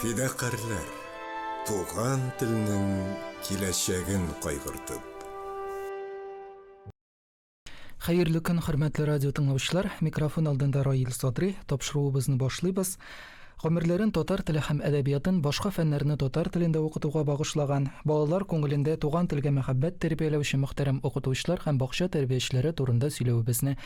Фидакарьләр, туган телнең киләчәген кайгыртып. Хәерле көн, хөрмәтле радио тыңлаучылар. Микрофон алдында Раил Садри. Тапшыруыбызны башлыйбыз. Гомерләрен татар теле һәм әдәбиятын, башка фәннәрне татар телендә укытуга багышлаган, балалар күңелендә туган телгә мәхәббәт тәрбияләүче мөхтәрәм укытучылар һәм бакча тәрбиячеләре турында сөйләвебезне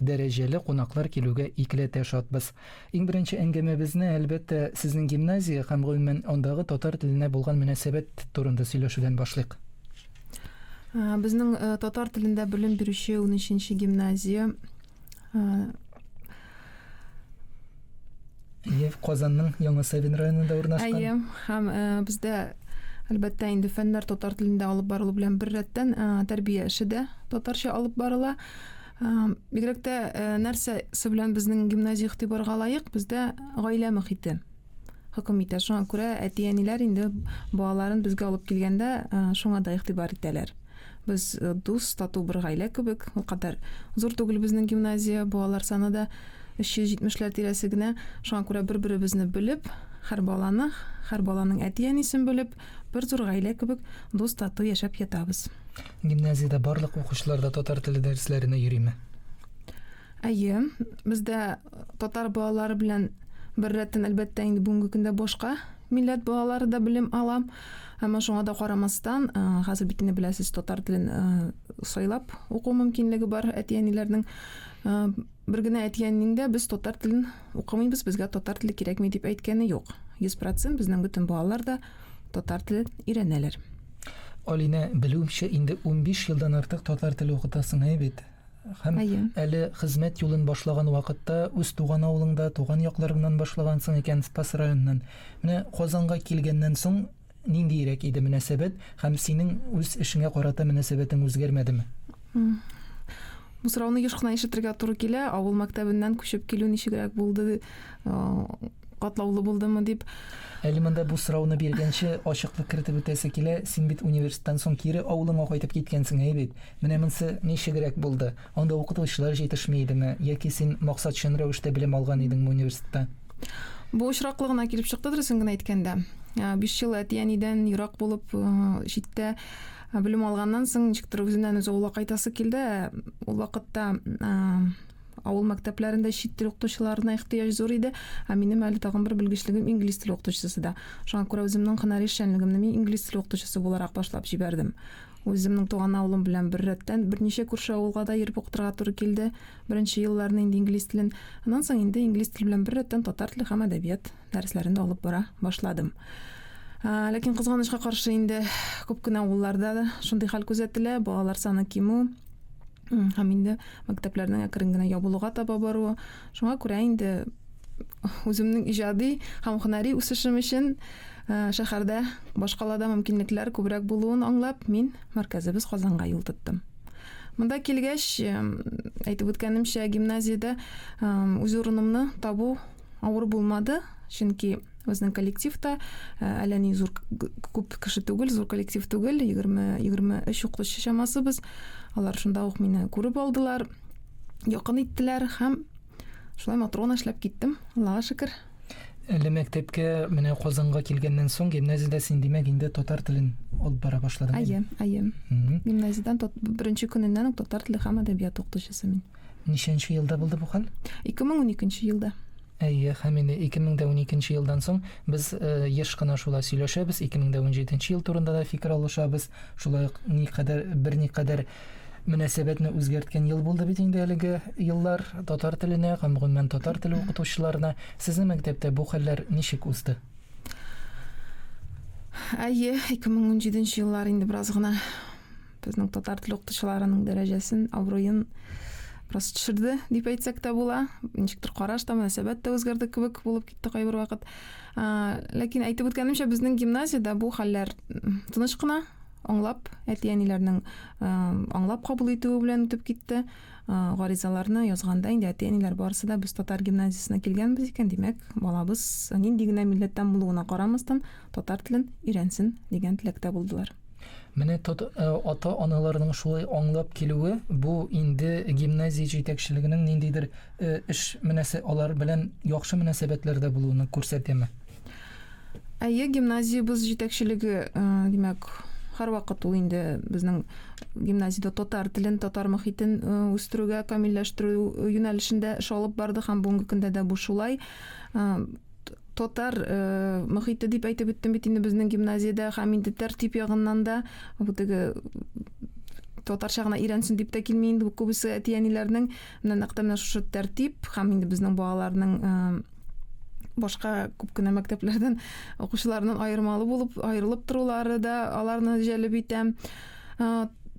Дәрәҗәле кунаклар килүгә икеләтә шатбыз. Иң беренче әңгәмәбезне, әлбәттә, сезнең гимназия һәм, гомумән, андагы татар теленә булган мөнәсәбәт турында сөйләшүдән башлыйк. Безнең татар телендә белем бирүче унөченче гимназия. Әйе, Казанның Яңа Савин районында урнашкан. Әйе, һәм бездә, әлбәттә, инде фәннәр татар телендә алып барылу белән беррәттән, тәрбия эше дә татарча алып барыла. Бигрәк тә э, нәрсә белән безнең гимназия игътибарга лаек? Бездә гаилә мөхите хөкем итә. Шуңа күрә әти-әниләр инде балаларын безгә алып килгәндә э, шуңа да игътибар итәләр. Без э, дус, тату бер гаилә кебек. Ул кадәр зур түгел безнең гимназия, балалар саны да 370-ләр тирәсе генә. Шуңа күрә бер-беребезне белеп, һәр баланы, һәр баланың әти-әнисен белеп, Бер зур гаилә кебек дус-тату яшәп ятабыз. Гимназиядә барлык укучылар да татар теле дәресләренә йөриме? Әйе, бездә татар балалары белән беррәттән, әлбәттә, инде бүгенге көндә башка милләт балалары да белем ала. Әмма шуңа да карамастан, хәзер бит инде беләсез, татар телен сайлап уку мөмкинлеге бар әти-әниләрнең. Бер генә әтиәнинең дә без татар телен укымыйбыз, безгә татар теле кирәкми дип әйткәне юк. 100% безнең бөтен балалар да татар телен өйрәнәләр. Алинә, белүемчә, инде унбиш елдан артык татар теле укытасың, әйе бит? Һәм Әйе. әле хезмәт юлын башлаган вакытта үз туган авылыңда, туган якларыңнан башлагансың икән, Спас районыннан. Менә Казанга килгәннән соң ниндиерәк иде мөнәсәбәт һәм синең үз эшеңә карата мөнәсәбәтең үзгәрмәдеме? Бу сорауны еш кына ишетергә туры килә, авыл мәктәбеннән күчеп килү ничегрәк булды, катлаулы булдымы дип. Әле монда бу сорауны биргәнче ачыклык кертеп үтәсе килә, син бит университеттан соң кире авылыңа кайтып киткәнсең, әйе бит? Менә монсы ничегрәк булды? Анда укытучылар җитешми идеме, яки син максатчын рәвештә белем алган идеңме университетта? Бу очраклы гына килеп чыкты, дөресен генә әйткәндә. Биш ел әти-әнидән ерак булып, читтә белем алганнан соң, ничектер үзеннән үзе авылга кайтасы килде. Ул вакытта авыл мәктәпләрендә чит тел укытучыларына ихтыяҗ зур иде, ә минем әле тагын бер белгечлегем инглиз теле укытучысы да. Шуңа күрә үземнең һөнәри эшчәнлегемне мин инглиз теле укытучысы буларак башлап җибәрдем. Үземнең туган авылым белән беррәттән берничә күрше авылга да йөреп укытырга туры килде. Беренче елларны инде инглиз телен, аннан соң инде инглиз теле белән беррәттән татар теле һәм әдәбият дәресләрен дә алып бара башладым. Ләкин кызганычка каршы инде күп кенә авылларда да шундый хәл күзәтелә, балалар саны кимү, һәм инде мәктәпләрнең әкрен генә ябылуга таба баруы. Шуңа күрә инде үземнең иҗади һәм һөнәри үсешем өчен э, шәһәрдә башкалада мөмкинлекләр күбрәк булуын аңлап, мин мәркәзебез Казанга юл тоттым. Монда килгәч, э, әйтеп үткәнемчә, гимназиядә э, үз урынымны табу авыр булмады, чөнки безнең коллектив та э, әллә ни зур күп кеше түгел, зур коллектив түгел, 20-23 укытучы чамасы без. Алар шунда ук мине күреп алдылар, якын иттеләр һәм шулай матрона эшләп киттем. Аллага шөкер. Әле мәктәпкә менә Казанга килгәннән соң гимназиядә син димәк инде татар телен алып бара башладың. Әйе, әйе. Гимназиядән беренче көненнән үк татар теле һәм әдәбият укытучысы мин. Ничәнче елда булды бу хәл? 2012 елда. Әйе, һәм инде 2012 елдан соң без еш кына шулай сөйләшәбез, 2017 ел турында да фикер алышабыз, шулай ук никадәр, берникадәр мөнәсәбәтне үзгәрткән ел булды бит инде әлеге еллар татар теленә һәм гомумән татар теле укытучыларына. Сезнең мәктәптә бу хәлләр ничек узды? Әйе, 2017 еллар инде бераз гына Безнең татар теле укытучыларының дәрәҗәсен, абруен бераз төшерде дип әйтсәк тә була. Ничектер караш та, мөнәсәбәт тә үзгәрде кебек булып китте кайбер вакыт. Ләкин әйтеп үткәнемчә, безнең гимназиядә бу хәлләр тыныч кына, аңлап, әти-әниләрнең аңлап кабул итүе белән үтеп китте. Гаризаларны язганда инде әти-әниләр барысы да без татар гимназиясенә килгәнбез икән, димәк, балабыз нинди генә милләттән булуына карамастан, татар телен өйрәнсен дигән теләктә булдылар. Менә э, ата-аналарның шулай аңлап килүе, бу инде гимназия җитәкчелегенең ниндидер э, эш мөнәсә алар белән яхшы мөнәсәбәтләрдә булуны күрсәтәме? Әйе, гимназиябез җитәкчелеге, э, димәк, һәрвакыт ул инде безнең гимназиядә татар телен, татар мөхитен э, үстерүгә, камилләштерү юнәлешендә эш алып барды һәм бүгенге көндә дә бу шулай. Э, татар э, мөхите дип әйтеп үттем бит инде безнең гимназиядә һәм инде тәртип ягыннан да бу теге татарча гына өйрәнсен дип тә килми инде күбесе әти әниләрнең менә нәкъ менә шушы тәртип һәм инде безнең балаларның э, башка күп кенә мәктәпләрдән укучылардан аермалы булып аерылып торулары да аларны җәлеп итә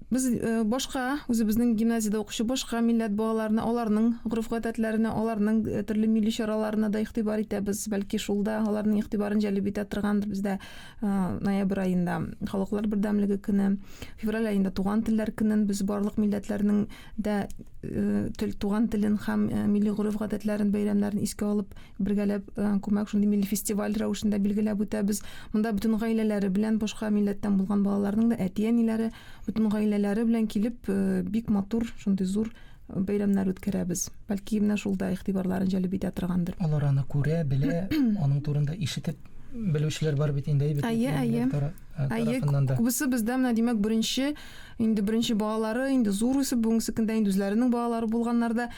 Без э, башка, үзебезнең гимназиядә укучы башка милләт балаларына, аларның гореф-гадәтләренә, аларның э, төрле милли чараларына да игътибар итәбез. Бәлки шул да аларның игътибарын җәлеп итә торгандыр. Бездә э, ноябрь аенда халыклар бердәмлеге көне, февраль аенда туган телләр көнен без барлык милләтләрнең дә тел туган телен һәм милли гореф-гадәтләрен, бәйрәмнәрен искә алып Бергәләп э, күмәк шундый милли фестиваль рәвешендә билгеләп үтәбез. Монда бөтен гаиләләре белән башка милләттән булган балаларның да әти-әниләре бөтен гаиләләре белән килеп э, бик матур шундый зур э, бәйрәмнәр үткәрәбез. Бәлки менә шул да игътибарларын җәлеп итә торгандыр. Алар аны күрә, белә, аның турында ишетеп белүчеләр бар бит инде әйбәт. Әйе, әйе. Әйе, күбесе бездә менә димәк беренче инде беренче балалары инде зур үсеп бүгенге көндә инде үзләренең балалары булганнарда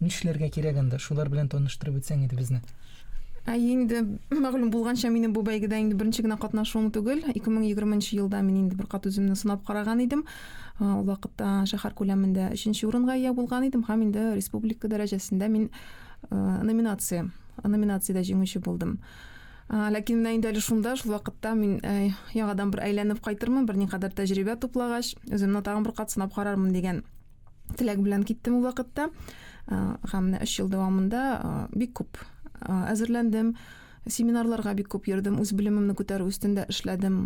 Нишләргә кирәк анда? Шулар белән таныштырып үтсәң иде безне. Ә инде мәгълүм булганча, минем бу бәйгедә инде беренче генә катнашуым түгел. 2020 елда мин инде бер кат үземне сынап караган идем. Ул вакытта шәһәр күләмендә 3 урынга ия булган идем һәм инде республика дәрәҗәсендә мин номинация, номинациядә җиңүче булдым. Ләкин менә инде әле шунда, шул вакытта мин яңадан бер әйләнеп кайтырмын, берникадәр тәҗрибә туплагач, үземне тагын бер кат сынап карармын дигән теләк белән киттем ул вакытта һәм менә өч ел дәвамында бик күп әзерләндем семинарларга бик күп йөрдем үз белемемне күтәрү өстендә эшләдем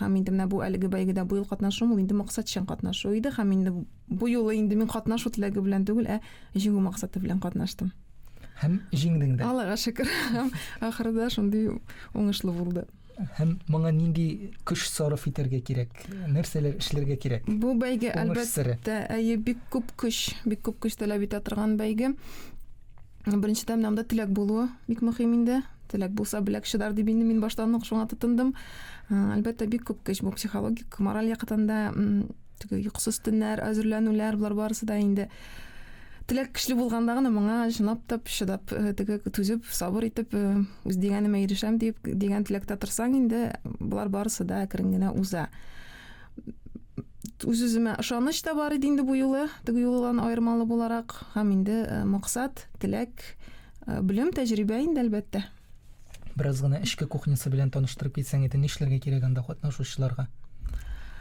һәм инде менә бу әлеге бәйгедә бу ел катнашуым ул инде максатчан катнашу иде һәм инде бу юлы инде мин катнашу теләге белән түгел ә җиңү максаты белән катнаштым һәм җиңдең дә аллага шөкер ахырда шундый уңышлы булды Һәм моңа нинди көч сарыф итәргә кирәк? Нәрсәләр эшләргә кирәк? Бу бәйге әлбәттә, әйе, бик күп көч, бик күп көч таләп итә торган бәйге. Беренчедән, монда теләк булуы бик мөһим инде. Теләк булса, беләк чыдар дип инде мин баштан ук шуңа тотындым. Әлбәттә, бик күп көч бу психологик, мораль яктан да Теге йокысыз төннәр, әзерләнүләр, болар барысы да инде теләк көчле булганда гына моңа чынлап та чыдап э, теге түзеп сабыр итеп э, үз дигәнемә ирешәм дип дигән теләктә торсаң инде болар барысы да әкрен генә уза үз үземә ышаныч та бар иде инде бу юлы теге юлдан аермалы буларак һәм инде э, максат теләк белем тәҗрибә инде әлбәттә Бераз гына эчке кухнясы белән таныштырып китсәң иде, нишләргә кирәк анда катнашучыларга?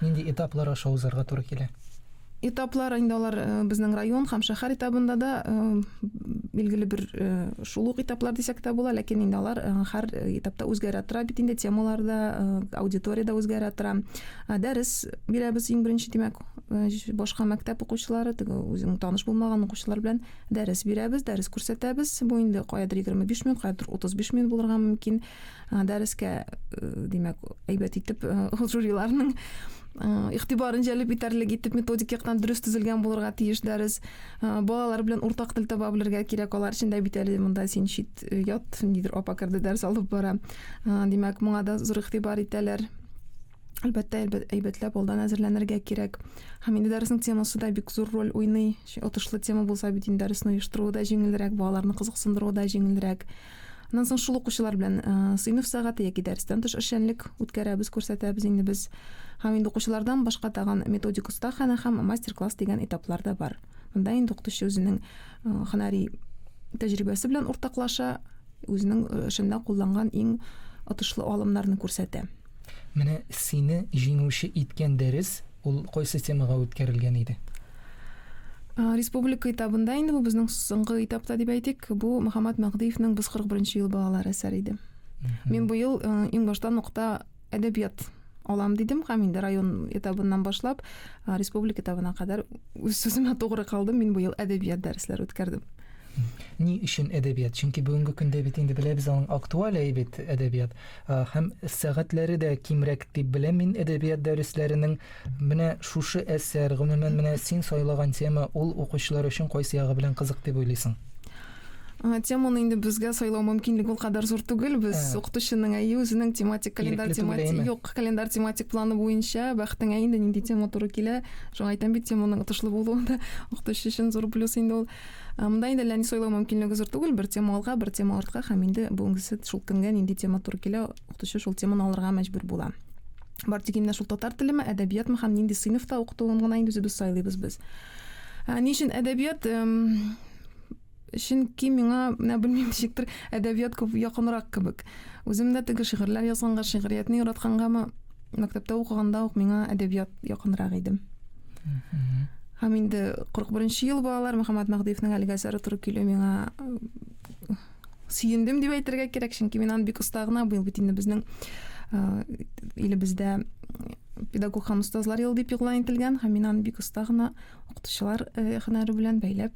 Нинди этаплар аша узарга туры килә? Этаплар инде алар э, безнең район һәм шәһәр этабында да э, билгеле бер э, шул ук этаплар дисәк тә була, ләкин инде алар һәр этапта үзгәрә тора бит инде темалар да, аудитория да үзгәрә тора. Дәрес бирәбез иң беренче, димәк, башка мәктәп укучылары, теге үзең таныш булмаган укучылар белән Дәрес бирәбез, дәрес күрсәтәбез. Бу инде каядыр 25 минут, каядыр 35 минут булырга мөмкин. Дәрескә, э, димәк, әйбәт итеп э, жюриларның э, игътибарын җәлеп итәрлек итеп методик яктан дөрес төзелгән булырга тиеш дәрес. Балалар белән уртак тел таба белергә кирәк. Алар өчен дә бит әле монда син чит ят, нидер апа керде дәрес алып бара. Димәк, моңа да зур игътибар итәләр. Әлбәттә, әйбәтләп алдан әзерләнергә кирәк. Һәм инде дәресның темасы да бик зур роль уйный. Отышлы тема булса бит инде дәресне оештыруы да җиңелрәк, балаларны кызыксындыруы да җиңелрәк. Аннан соң шул укучылар белән э, сыйныф сәгате яки дәрестән тыш эшчәнлек үткәрәбез, күрсәтәбез инде без. Һәм инде укучылардан башка тагын методик остахана һәм мастер-класс дигән этаплар да бар. Монда инде укытучы үзенең э, һөнәри тәҗрибәсе белән уртаклаша, Үзенең э, эшендә кулланган иң отышлы алымнарны күрсәтә. Менә сине җиңүче иткән дәрес ул кайсы темага үткәрелгән иде? Э, республика этабында инде бу безнең соңгы этапта дип әйтик, бу Мөхәммәт Мәгъдиевнең Без 41 ел балалар әсәре иде. Мин бу ел э, иң башта нокта әдәбият алам дидем һәм инде район этабыннан башлап республика этабына кадәр үз сүземә тугры калдым мин быел әдәбият дәресләре үткәрдем ни өчен әдәбият чөнки бүгенге көндә бит инде беләбез аның актуаль әйбит әдәбият һәм сәгатьләре дә кимрәк дип беләм мин әдәбият дәресләренең Менә шушы әсәр, гомумән, менә син сайлаган тема, ул укучылар өчен кайсы ягы белән кызык дип уйлыйсың? Теманы инде безгә сайлау мөмкинлеге ул кадәр зур түгел. Без укытучының әйе үзенең тематик календарь тематик юк, календарь тематик планы буенча бәхетеңә инде нинди тема туры килә. Шуңа әйтәм бит, теманың отышлы булуы да укытучы өчен зур плюс инде ул. Монда инде ләни сайлау мөмкинлеге зур түгел, бер тема алга, бер тема артка һәм инде бүгенгесе шул көнгә нинди тема туры килә, укытучы шул теманы алырга мәҗбүр була. Бар тик инде шул татар телеме, әдәбиятмы һәм нинди сыйныфта укытылуын гына инде үзебез сайлыйбыз без. Ә, ни өчен әдәбият? Чөнки миңа, менә белмим, ничектер әдәбият күп якынрак кебек. Үзем дә теге шигырьләр язганга, шигъриятне яраткангамы, мәктәптә укыганда ук миңа әдәбият якынрак иде. Һәм инде 41 нче ел балалар Мөхәммәт Мәһдиевнең әлеге әсәре туры килү миңа сөендем дип әйтергә кирәк чөнки мин аны бик оста гына быел бит инде безнең илебездә педагог һәм остазлар елы дип игълан ителгән һәм мин аны бик оста гына укытучылар һөнәре белән бәйләп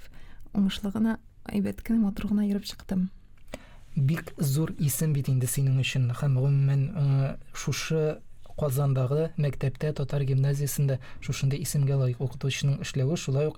уңышлы гына әйбәт кенә матур гына йөреп чыктым бик зур исем бит инде синең өчен һәм гомумән шушы Казандагы мәктәптә татар гимназиясендә шушындый исемгә лаек укытучының эшләве шулай ук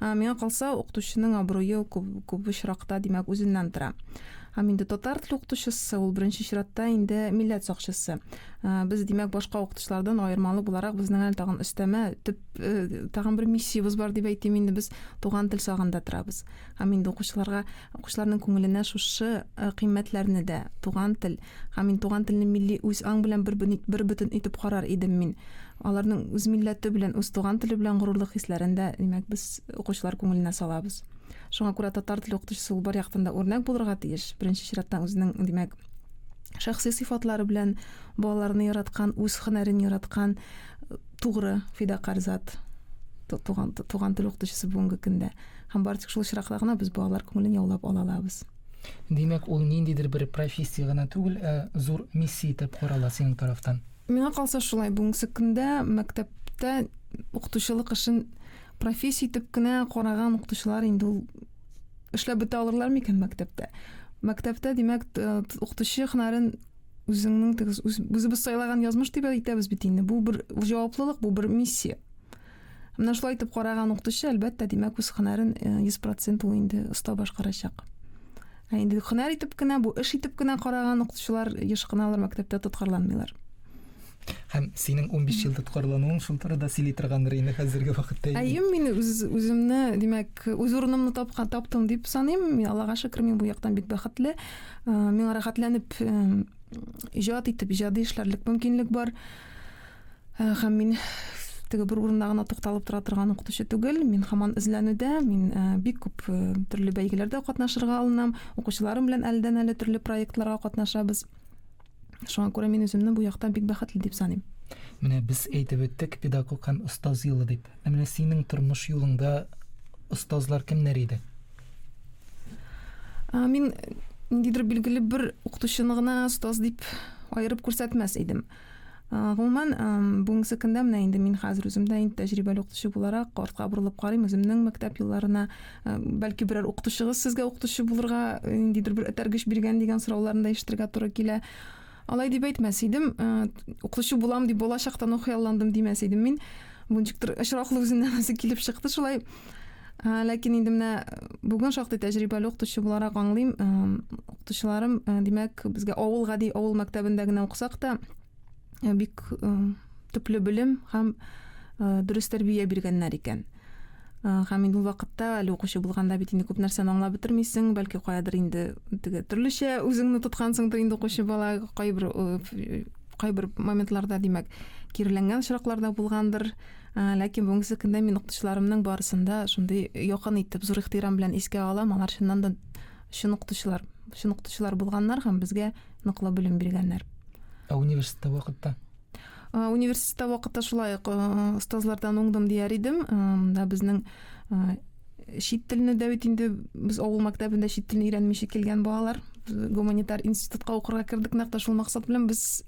Ә миңа калса, укытучының абруе ул күп, күп очракта, димәк, үзеннән тора. Һәм инде татар теле укытучысы, ул беренче чиратта инде милләт сакчысы. Ә, без, димәк, башка укытучылардан аермалы буларак, безнең әле тагын өстәмә, төп, э, тагын бер миссиябез бар дип әйтим инде, без туган тел сагында торабыз. Һәм инде укучыларга, укучыларның күңеленә шушы э, кыйммәтләрне дә, туган тел, һәм мин туган телне милли үз аң белән бер, бер бөтен итеп карар идем мин. Аларның үз милләте белән, үз туган теле белән горурлык хисләрен дә, димәк, без укучылар күңеленә салабыз. Шуңа күрә татар теле укытучысы ул бар яктан да үрнәк булырга тиеш. Беренче чиратта үзенең, димәк, шәхси сыйфатлары белән балаларны яраткан, үз хөнәрен яраткан, тугры, фидакарь зат туган, туган тел укытучысы бүгенге көндә. Һәм бары тик шул очракта гына без балалар күңелен яулап ала алабыз. Димәк, ул ниндидер бер профессия гына түгел, ә зур миссия итеп карала синең тарафтан. Миңа калса шулай, бүгенге көндә мәктәптә укытучылык эшен профессия итеп кенә караган укытучылар инде ул эшләп бетә алырлар микән мәктәптә? Мәктәптә, димәк, укытучы хөнәрен үзеңнең үзебез сайлаган язмыш дип әйтәбез бит инде. Бу бер җаваплылык, бу бер миссия. Менә шулай итеп караган укытучы, әлбәттә, димәк, үз хөнәрен 100% ул инде оста башкарачак. Ә инде хөнәр итеп кенә, бу эш итеп кенә караган укытучылар еш кына алар мәктәптә тоткарланмыйлар. Һәм синең 15 ел тоткарлануың шул турыда сөйли торгандыр инде хәзерге вакытта. Әйе, мин үз үземне, димәк, үз урынымны тапкан таптым дип саныйм. Мин Аллага шөкер, мин бу яктан бик бәхетле. Миңа рәхәтләнеп иҗат итеп, иҗади эшләрлек мөмкинлек бар. Э, һәм мин теге бер урында гына тукталып тора торган укытучы түгел мин хаман эзләнүдә мин э, бик күп э, төрле бәйгеләрдә катнашырга алынам укучыларым белән әлдән әле төрле проектларга катнашабыз шуңа күрә мин үземне бу якта бик бәхетле дип саныйм менә без әйтеп үттек педагог һәм остаз юлы дип ә менә синең тормыш юлыңда остазлар кемнәр иде ә, мин ниндидер билгеле бер укытучыны гына остаз дип аерып күрсәтмәс идем Гомумән, бүгенге секундә менә инде мин хәзер үзем дә инде тәҗрибәле укытучы буларак артка борылып карыйм үземнең мәктәп елларына. Бәлки берәр укытучыгыз сезгә укытучы булырга ниндидер бер этәргеч биргән дигән сорауларны да ишетергә туры килә. Алай дип әйтмәс идем, укытучы булам дип балачактан ук хыялландым димәс идем мин. Бу ничектер очраклы үзеннән үзе килеп чыкты шулай. Ә, ләкин инде менә бүген шактый тәҗрибәле укытучы буларак аңлыйм, укытучыларым, димәк, безгә авыл гади авыл мәктәбендә генә укысак та, бик төпле белем һәм дөрес тәрбия биргәннәр икән. Һәм инде ул вакытта әле укучы булганда бит инде күп нәрсәне аңлап бетермисең, бәлки каядыр инде теге төрлечә үзеңне тоткансыңдыр инде укучы бала, кайбер кайбер моментларда, димәк, киреләнгән очраклар да булгандыр. Ә, Ләкин бүгенге көндә мин укытучыларымның барысын да шундый якын итеп, зур ихтирам белән искә алам. Алар чыннан да чын укытучылар, чын укытучылар булганнар һәм безгә ныклы белем биргәннәр. Ә университетта вакытта? Университетта вакытта шулай ук остазлардан уңдым дияр идем. Да безнең чит телне дә бит инде без авыл мәктәбендә чит телне өйрәнмичә килгән балалар гуманитар институтка укырга кердек нәкъ тә шул максат белән без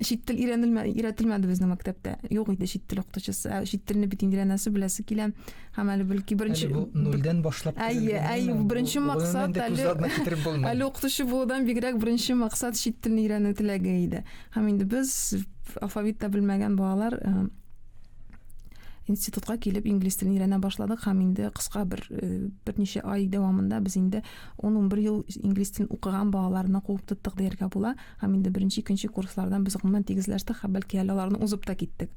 чит тел өйрәнелмә өйрәтелмәде безнең мәктәптә юк иде чит тел укытучысы ә чит телне бит инде нәрсә беләсе килә һәм әле бәлки беренче бу нольдән башлап әйе әйе беренче максат әле әле укытучы булудан бигрәк беренче максат чит телне өйрәнү теләге иде һәм инде без алфавит та белмәгән балалар э, институтка килеп инглиз телен өйрәнә башладык һәм инде кыска бер э, берничә ай дәвамында без инде 10-11 ел инглиз телен укыган балаларны куып тоттык дияргә була Һәм инде беренче, икенче курслардан без гомумән тигезләштек, хә бәлки әле аларны узып та киттек.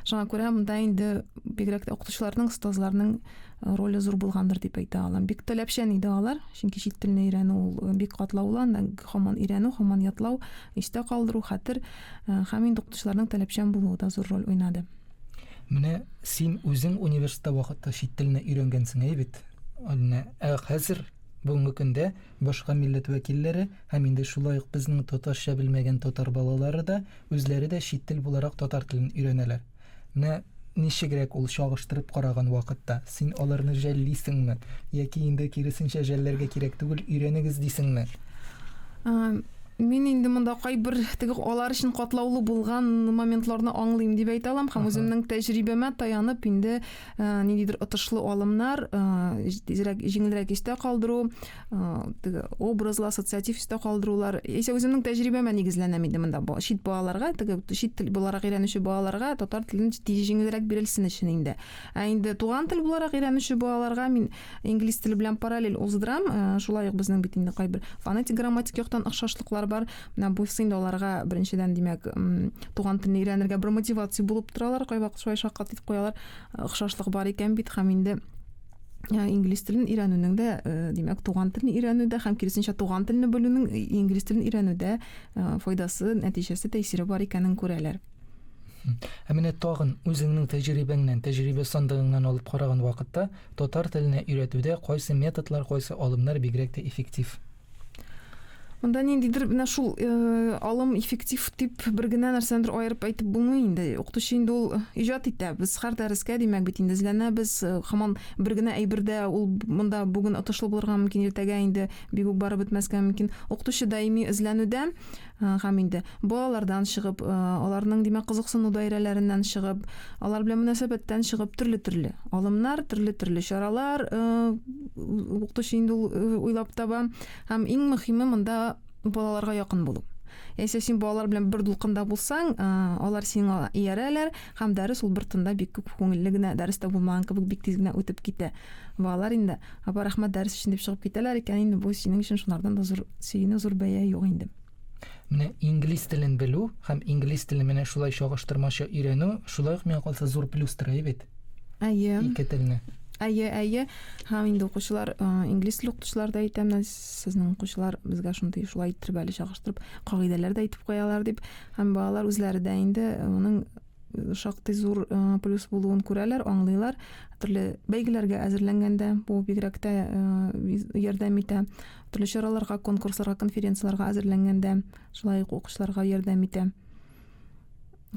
Шуңа күрә монда инде бигрәк тә укытучыларның, остазларның э, роле зур булгандыр дип әйтә алам. Бик таләпчән иде алар, чөнки чит телне өйрәнү ул э, бик катлаулы, анда һаман өйрәнү, һаман ятлау, истә калдыру, хәтер э, һәм инде укытучыларның таләпчән булуы да зур роль уйнады. Менә син үзең университетта вакытта чит телне өйрәнгәнсең әй бит. Ә хәзер бүгенге көндә Башка милләт вәкилләре һәм инде шулай ук безнең татарча белмәгән татар балалары да үзләре дә чит тел буларак татар телен өйрәнәләр. Менә ничегрәк ул чагыштырып караган вакытта? Син аларны жәллисеңме? Яки инде киресенчә жәлләргә кирәк түгел, өйрәнегез дисеңме? Мин инде монда кайбер теге алар өчен катлаулы булган моментларны аңлыйм дип әйтә алам һәм үземнең тәҗрибәмә таянып инде Э, ниндидер отышлы алымнар э, тизрәк җиңелрәк истә калдыру э, образлы ассоциатив истә калдырулар яисә үземнең тәҗрибәмә нигезләнәм инде монда чит балаларга теге чит тел буларак өйрәнүче балаларга татар телен җиңелрәк бирелсен өчен инде ә инде туган тел буларак өйрәнүче балаларга мин Инглиз теле белән параллель уздырам. Э, шулай ук безнең бит инде кайбер фонетик грамматик яктан охшашлыклар бар. Менә бу инде аларга беренчедән, димәк, туган телне өйрәнергә бер мотивация булып торалар. Кайвакыт шулай шаккат итеп куялар. Э, охшашлык бар икән бит һәм инде Э, инглиз телен өйрәнүнең дә э, димәк туган телне өйрәнүдә һәм киресенчә туган телне белүнең э, инглиз телен өйрәнүдә файдасы нәтиҗәсе тәэсире бар икәнен күрәләр ә менә тагын үзеңнең тәҗрибәңнән тәҗрибә сандыгыңнан алып караган вакытта Татар теленә өйрәтүдә кайсы методлар, кайсы алымнар бигрәк тә эффектив? Монда ниндидер менә шул алым эффектив дип бер генә нәрсәнедер аерып әйтеп булмый инде. Укытучы инде ул иҗат итә. Без һәр дәрескә димәк бит инде эзләнәбез. Хаман бер генә әйбердә ул монда бүген отышлы булырга мөмкин, иртәгә инде бигүк барып бетмәскә мөмкин. Укытучы даими эзләнүдә Һәм инде балалардан чыгып, аларның, димәк, кызыксыну даирәләреннән чыгып, алар белән мөнәсәбәттән чыгып, төрле-төрле алымнар, төрле-төрле чаралар укытучы инде ул уйлап таба. Һәм иң мөһиме монда балаларга якын булу. Яисә син балалар белән бер дулкында булсаң, алар сиңа иярәләр, Һәм дәрес ул бер тында бик күп күңелле генә, дәрес тә булмаган кебек бик тиз генә үтеп китә. Балалар инде, Апа, рәхмәт, дәрес өчен дип чыгып китәләр икән, инде бу синең өчен шулардан да зур сөенү, зур бәя юк инде. Менә инглиз телен белү һәм инглиз телен менә шулай чагыштырмача өйрәнү, шулай ук миңа калса зур плюстыр, әйе бит? Әйе. Ике телне. Әйе, әйе. Һәм инде укучылар, инглиз теле укытучылар да әйтә, менә сезнең укучылар безгә шундый шулай иттереп әле чагыштырып, кагыйдәләр дә әйтеп куялар дип. Һәм балалар үзләре дә инде моның шактый зур плюс булуын күрәләр, аңлыйлар. Төрле бәйгеләргә әзерләнгәндә бу бигрәк тә ярдәм итә. Төрле чараларга, конкурсларга, конференцияләргә әзерләнгәндә шулай ук укучыларга ярдәм итә.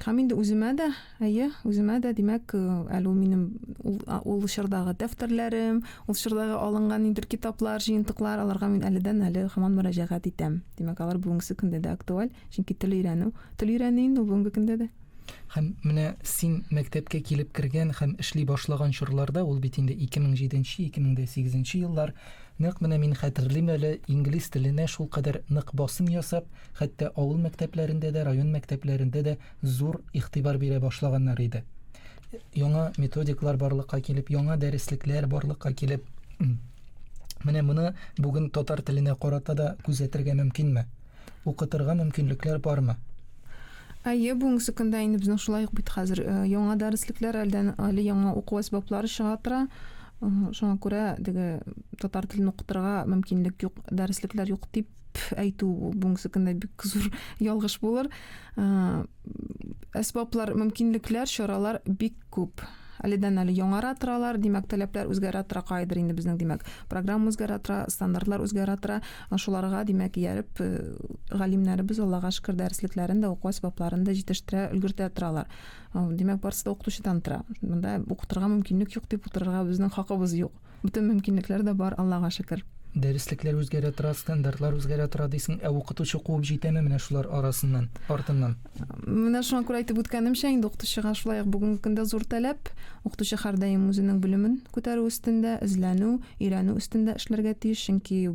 Һәм инде үземә дә Әйе, үземә дә, димәк, әле ул минем ул, ул чордагы дәфтәрләрем, ул чордагы алынган нидер китаплар, җыентыклар, аларга мин әледән әле һаман мөрәҗәгать итәм. Димәк, алар бүгенге көндә дә актуаль, чөнки тел өйрәнү, тел өйрәнү инде бүгенге көндә дә. Һәм менә син мәктәпкә килеп кергән һәм эшли башлаган чорларда, ул бит инде 2007-2008 еллар, нәкъ менә мин хәтерлим әле, инглиз теленә шулкадәр нык басым ясап, хәтта авыл мәктәпләрендә дә, район мәктәпләрендә дә зур игътибар бирә башлаганнар иде. Яңа методиклар барлыкка килеп, яңа дәреслекләр барлыкка килеп, менә моны бүген татар теленә карата да күзәтергә мөмкинме? Укытырга мөмкинлекләр бармы? Әйе, бүгенге секундда инде безнең шулай ук бит хәзер э, яңа дәреслекләр әлдән әле яңа уку әсбаплары чыга тора. Э, шуңа күрә теге татар телен укытырга мөмкинлек юк, дәреслекләр юк дип әйтү бүгенге көндә бик зур ялгыш булыр. Э, әсбаплар, мөмкинлекләр, чаралар бик күп. Әледән әле яңара торалар, димәк, таләпләр үзгәрә тора кайдыр инде безнең, димәк, программа үзгәрә тора, стандартлар үзгәрә тора. Шуларга, димәк, ияреп, э, галимнәребез Аллага шөкер дәреслекләрен дә, уку әсбапларын да җитештерә, өлгертә торалар. Э, димәк, барысы да укытучыдан тора. Монда укытырга мөмкинлек юк дип утырырга безнең хакыбыз юк. Бөтен мөмкинлекләр дә бар, Аллага шөкер. Дәреслекләр үзгәрә тора, стандартлар үзгәрә тора дисең, ә укытучы куып җитәме менә шулар арасыннан, артыннан? Менә шуңа күрә әйтеп үткәнемчә, инде укытучыга шулай ук бүгенге көндә зур таләп. Укытучы һәрдаим үзенең белемен күтәрү өстендә, эзләнү, өйрәнү өстендә эшләргә тиеш, чөнки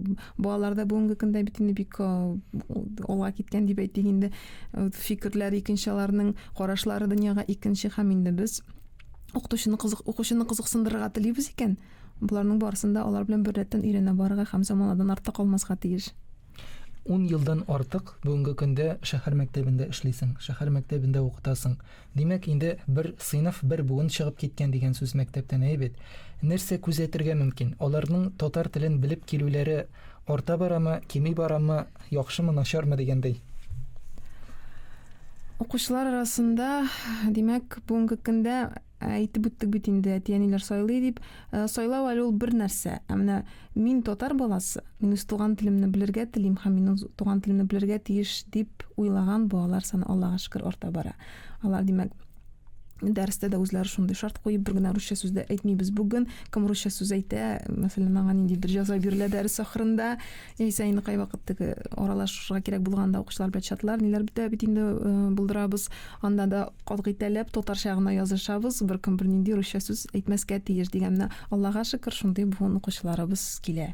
балалар да бүгенге көндә бит инде бик алга киткән дип әйтик инде, фикерләре икенче аларның, карашлары дөньяга икенче һәм инде без укытучыны кызык укучыны кызыксындырырга телибез икән, боларның барысын да алар белән беррәттән өйрәнә барырга һәм заманадан артта калмаска тиеш. Ун елдан артык бүгенге көндә шәһәр мәктәбендә эшлисең, шәһәр мәктәбендә укытасың. Димәк, инде бер сыйныф, бер буын чыгып киткән дигән сүз мәктәптән, әйе бит? Нәрсә күзәтергә мөмкин? Аларның татар телен белеп килүләре Арта барамы, кими барамы, яхшымы, начармы дигәндәй. Укучылар арасында, димәк, бүгенге көндә әйтеп үттек бит инде, әти-әниләр сайлый дип. Сайлау әле ул бер нәрсә. Ә менә мин татар баласы, мин үз туган телемне белергә телим һәм мин үз туган телемне белергә тиеш дип уйлаган балалар саны Аллага шөкер арта бара. Алар, димәк, дәрестә дә үзләре шундый шарт куеп бер генә русча сүз дә әйтмибез бүген кем русча сүз әйтә мәсәлән маңа нинди бер җаза бирелә дәрес ахырында яисә инде кайвакыт теге аралашырга кирәк булганда укучылар белән чатлар ниләр бетә бит инде э, булдырабыз анда да катгыйтәләп татарча гына язышабыз беркем бернинди русча сүз әйтмәскә тиеш дигән менә аллага шөкер шундый буын укучыларыбыз килә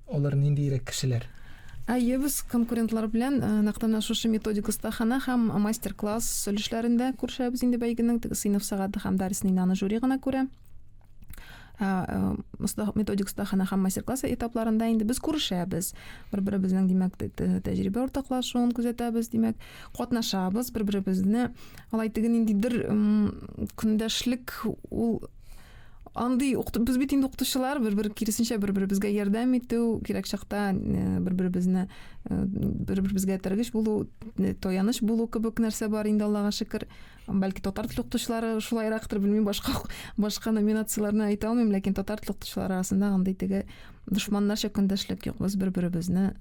Алар ниндиерәк кешеләр? Әйе, без конкурентлар белән нәкъ менә шушы методик остахана һәм мастер-класс өлешләрендә күрешәбез инде бәйгенең теге сыйныф сәгате һәм дәресен инде аны жюри гына күрә. Ә методик остахана һәм мастер-класс этапларында инде без күрешәбез. Бер-беребезнең, димәк, тәҗрибә уртаклашуын күзәтәбез, димәк, катнашабыз, бер-беребезне алай теге ниндидер көндәшлек ул Андый без бит инде укытучылар, бер-бер киресенчә бер-беребезгә ярдәм итү, кирәк чакта э, бер-беребезне э, бер-беребезгә тергеч булу, э, таяныч булу кебек нәрсә бар инде Аллага шөкер. Бәлки татар теле укытучылары шулайрактыр, белмим, башка башка номинацияләрне әйтә алмыйм, ләкин татар теле укытучылары арасында андый теге дошманнарча көндәшлек юк. Без бер-беребезне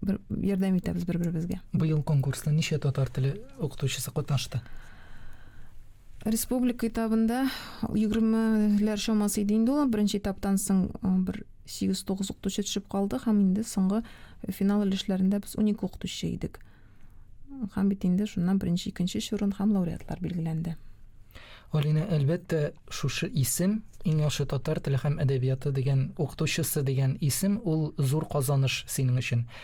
бер, ярдәм итәбез бер-беребезгә. Быел конкурста ничә татар теле укытучысы катнашты? Республика этабында егермеләр чамасы иде инде ул. Беренче этаптан соң бер 8-9 укытучы төшеп калды һәм инде соңгы финал өлешләрендә без 12 укытучы идек. Һәм бит инде шуннан беренче, икенче урын һәм лауреатлар билгеләнде. Алина, әлбәттә, шушы исем, иң яхшы татар теле һәм әдәбияты дигән укытучысы дигән исем, ул зур казаныш синең өчен.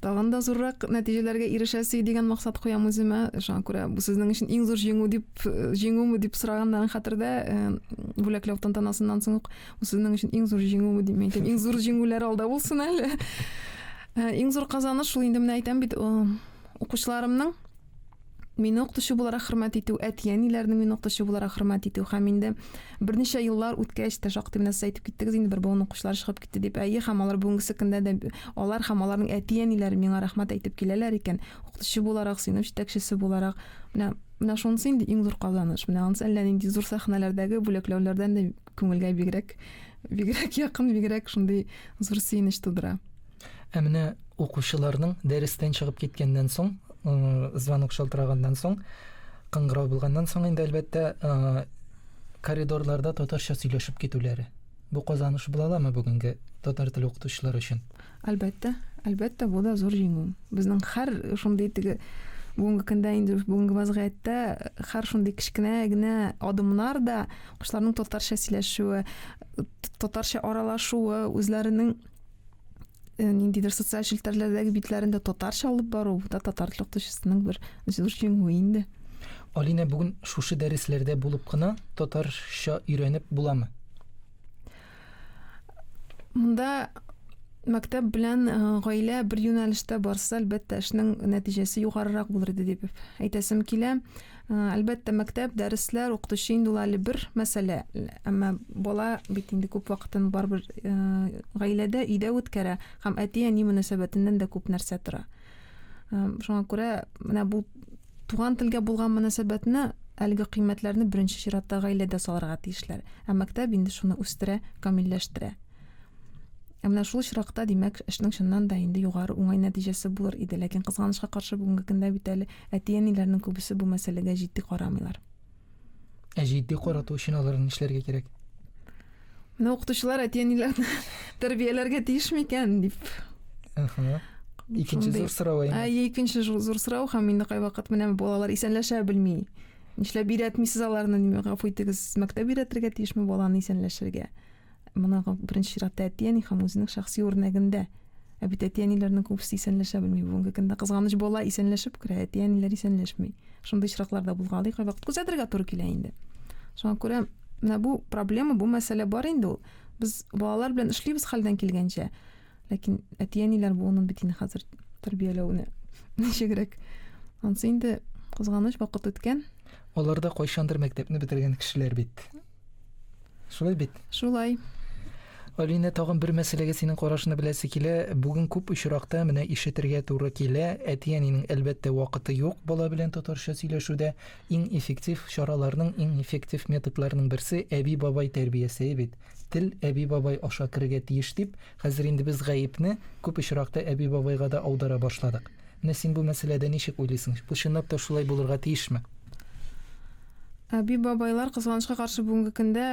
Тагын да зуррак нәтиҗәләргә ирешәсе дигән максат куям үземә. Шуңа күрә бу сезнең өчен иң зур җиңү дип э, җиңүме дип сораганнарын хәтердә э, бүләкләү тантанасыннан соң ук бу сезнең өчен иң зур җиңүме дип әйтәм. Иң зур җиңүләр алда булсын әле. Э, иң зур казаныш шул инде менә әйтәм бит, укучыларымның мине укытучы буларак хөрмәт итү, әти-әниләрнең мине укытучы буларак хөрмәт итү һәм инде берничә еллар үткәч тә шактый менә сез әйтеп киттегез инде бер буын укучылар чыгып китте дип. Әйе, һәм алар бүгенгесе көндә дә алар һәм аларның әти-әниләре миңа рәхмәт әйтеп киләләр икән. Укытучы буларак, сыйныф җитәкчесе буларак, менә менә шунысы инде иң зур казаныш. Менә анысы әллә нинди зур сәхнәләрдәге бүләкләүләрдән дә күңелгә бигрәк бигрәк якын, бигрәк шундый зур сөенеч тудыра. Ә менә укучыларның дәрестән чыгып киткәннән соң, звонок шалтыраганнан соң, кыңгырау булганнан соң инде әлбәттә коридорларда татарча сөйләшеп китүләре. Бу казаныш була аламы бүгенге татар теле укытучылары өчен? Әлбәттә, әлбәттә, бу да зур җиңү. Безнең һәр шундый теге бүгенге көндә инде бүгенге вазгыятьтә һәр шундый кечкенә генә адымнар да кошларның татарча сөйләшүе, татарча аралашуы, үзләренең э, ниндидер социаль челтәрләрдәге битләрендә татарча алып бару да татар теле укытучысының бер зур җиңүе инде алинә бүген шушы дәресләрдә булып кына татарча өйрәнеп буламы монда мәктәп белән э, гаилә бер юнәлештә барса әлбәттә эшнең нәтиҗәсе югарырак булыр иде дип әйтәсем килә Әлбәттә, мәктәп, дәресләр, укытучы инде ул әле бер мәсьәлә, әмма бала бит инде күп вакытын барыбер гаиләдә, өйдә үткәрә һәм әти-әни мөнәсәбәтеннән дә күп нәрсә тора. Шуңа күрә менә бу туган телгә булган мөнәсәбәтне әлеге кыйммәтләрне беренче чиратта гаиләдә салырга тиешләр. Ә мәктәп инде шуны үстерә, камилләштерә. Ә менә шул очракта, димәк, эшнең чыннан да инде югары уңай нәтиҗәсе булыр иде, ләкин кызганычка каршы бүгенге көндә бит әле әти-әниләрнең күбесе бу мәсьәләгә җитди карамыйлар. Ә җитди карату өчен алар нишләргә кирәк? Менә укытучылар әти-әниләрне тәрбияләргә тиеш микән дип. Ага. Икенче зур сорау әйе. Әйе, икенче зур сорау һәм инде кайвакыт менә балалар исәнләшә белми. Нишләп өйрәтмисез аларны, гафу итегез, мәктәп өйрәтергә тиешме баланы исәнләшергә? Моны беренче чиратта әти-әни һәм үзенең шәхси үрнәгендә. Ә бит әти-әниләрнең күбесе исәнләшә белми. Бүгенге көндә кызганыч бала исәнләшеп керә, әти-әниләр исәнләшми. Шундый очраклар да булгалый, кайвакыт күзәтергә туры килә инде. Шуңа күрә менә бу проблема, бу мәсьәлә бар инде ул. Без балалар белән эшлибез хәлдән килгәнчә. Ләкин әти-әниләр буынын бит инде хәзер тәрбияләүне ничегрәк. Ансы инде кызганыч вакыт үткән. Алар да кайчандыр мәктәпне бетергән кешеләр бит. Шулай бит? Шулай. Алина, тагын бер мәсьәләгә синең карашыңны беләсе килә. Бүген күп очракта менә ишетергә туры килә. Әти-әнинең әлбәттә вакыты юк бала белән татарча сөйләшүдә. Иң эффектив чараларның, иң эффектив методларның берсе әби-бабай тәрбиясе бит. Тел әби-бабай аша керергә тиеш дип, хәзер инде без гаепне күп очракта әби-бабайга да аудара башладык. Менә син бу мәсьәләдә ничек уйлыйсың? Бу чынлап та шулай булырга тиешме? Әби-бабайлар, кызганычка каршы, бүгенге көндә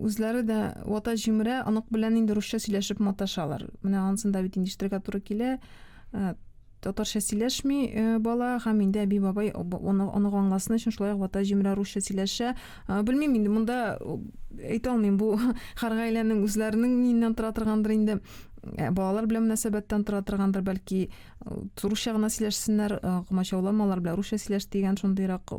үзләре дә вата җимерә, онык белән инде русча сөйләшеп маташалар. Менә ансын да бит инде ишетергә туры килә. Э, татарча сөйләшми э, бала һәм инде әби бабай аны аны аңласын өчен шулай вата җимерә русча сөйләшә э, белмим инде монда э, әйтә алмыйм бу һәр гаиләнең үзләренең миннән тора торгандыр инде балалар белән мөнәсәбәттән тора торгандыр бәлки Русча гына сөйләшсеннәр, комачауламалар белән русча сөйләш дигән шундыйрак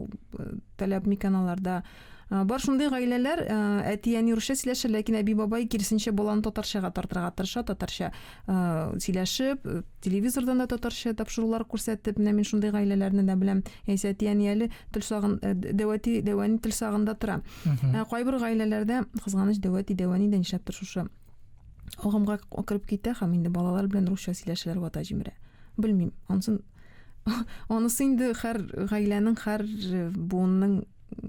таләп микән аларда. Бар шундый гаиләләр, әти әни русча сөйләшә, ләкин әби бабай киресенчә баланы татарчага тартырга тырыша, татарча сөйләшеп, телевизордан да татарча тапшырулар күрсәтеп, менә мин шундый гаиләләрне дә беләм. Яисә әти әни әле тел сагын дәвәти дәвәни тел сагында тора. Кайбер гаиләләрдә кызганыч дәвәти дәвәни дә нишләптер шушы Агымга кереп китә һәм инде балалар белән русча сөйләшәләр вата җимерә. Белмим, ансын анысы инде һәр гаиләнең, һәр э, буынның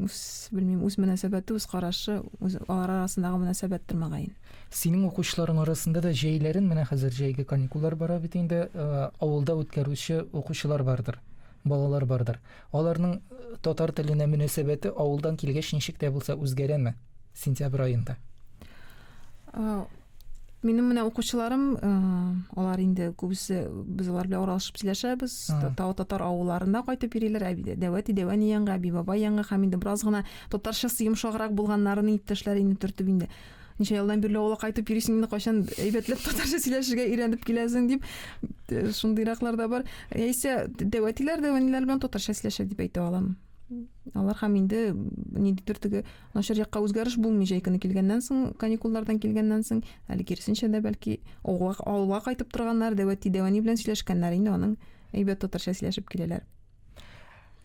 үз, белмим, үз мөнәсәбәте, үз карашы, үз алар арасындагы мөнәсәбәттер мәгаен. Синең укучыларың арасында да җәйләрен, менә хәзер җәйге каникуллар бара бит инде, э, авылда үткәрүче укучылар бардыр, балалар бардыр. Аларның татар теленә мөнәсәбәте авылдан килгәч ничек тә булса үзгәрәме сентябрь аенда? Минем менә укучыларым, э, алар инде күбесе без алар белән аралашып сөйләшәбез. Тау татар авылларында кайтып йөриләр. Әби дәвәти дәвәни янга, әби баба янга һәм инде бераз гына татарчасы йомшаграк булганнарын иптәшләр инде төртеп инде Ничә елдан бирле авылга кайтып йөрисең инде, кайчан әйбәтләп татарча сөйләшергә өйрәнеп киләсең дип, э, шундыйраклар да бар. Яисә дәвәтиләр дә әниләр белән татарча сөйләшә дип әйтә алам. Алар һәм инде ниндидер теге начар якка үзгәреш булмый җәй көне килгәннән соң, каникуллардан килгәннән соң, әле киресенчә дә бәлки авылга, авылга кайтып торганнар, дәвәти дәвәни белән сөйләшкәннәр инде аның әйбәт татарча сөйләшеп киләләр.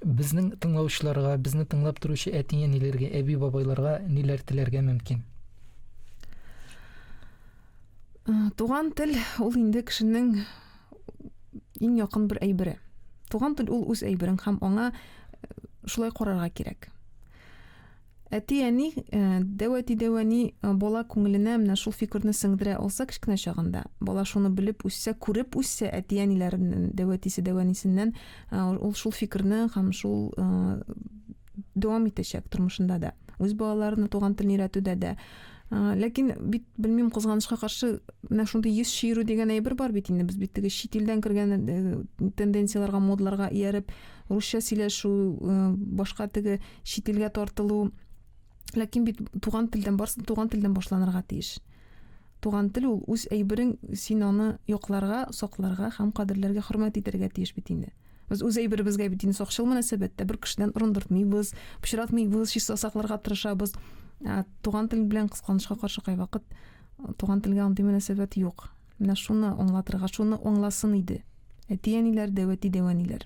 Безнең тыңлаучыларга, безне тыңлап торучы әти-әниләргә, әби-бабайларга ниләр теләргә мөмкин? Э, туган тел ул инде кешенең иң якын бер әйбере. Туган тел ул үз әйберең һәм аңа э, шулай карарга кирәк. Әти-әни, э, дәү әти-дәү әни э, бала күңеленә менә шул фикерне сеңдерә алса кечкенә чагында, бала шуны белеп үссә, күреп үссә әти-әниләреннән, дәү әтисе, дәү әнисеннән, э, ул шул фикерне һәм шул дәвам итәчәк тормышында да. Үз балаларына туган телне өйрәтүдә дә. Ләкин бит белмим кызганычка каршы менә шундый йөз чиерү дигән әйбер бар бит инде без бит теге чит илдән кергән тенденцияләргә, модларга ияреп русча сөйләшү, башка теге чит илгә тартылу. Ләкин бит туган телдән барсын, туган телдән башланырга тиеш. Туган тел ул үз әйберең, син аны якларга, сакларга һәм кадерләргә, хөрмәт итәргә тиеш бит инде. Без үз әйберебезгә бит инде сакчыл мөнәсәбәттә бер кешедән урындыртмыйбыз, пычратмыйбыз, чиста сакларга тырышабыз. Ә туган тел белән кысканычка каршы кайвакыт туган телгә андый мөнәсәбәт юк. Менә шуны аңлатырга, шуны аңласын иде. Әти-әниләр, дәвәти-дәвәниләр.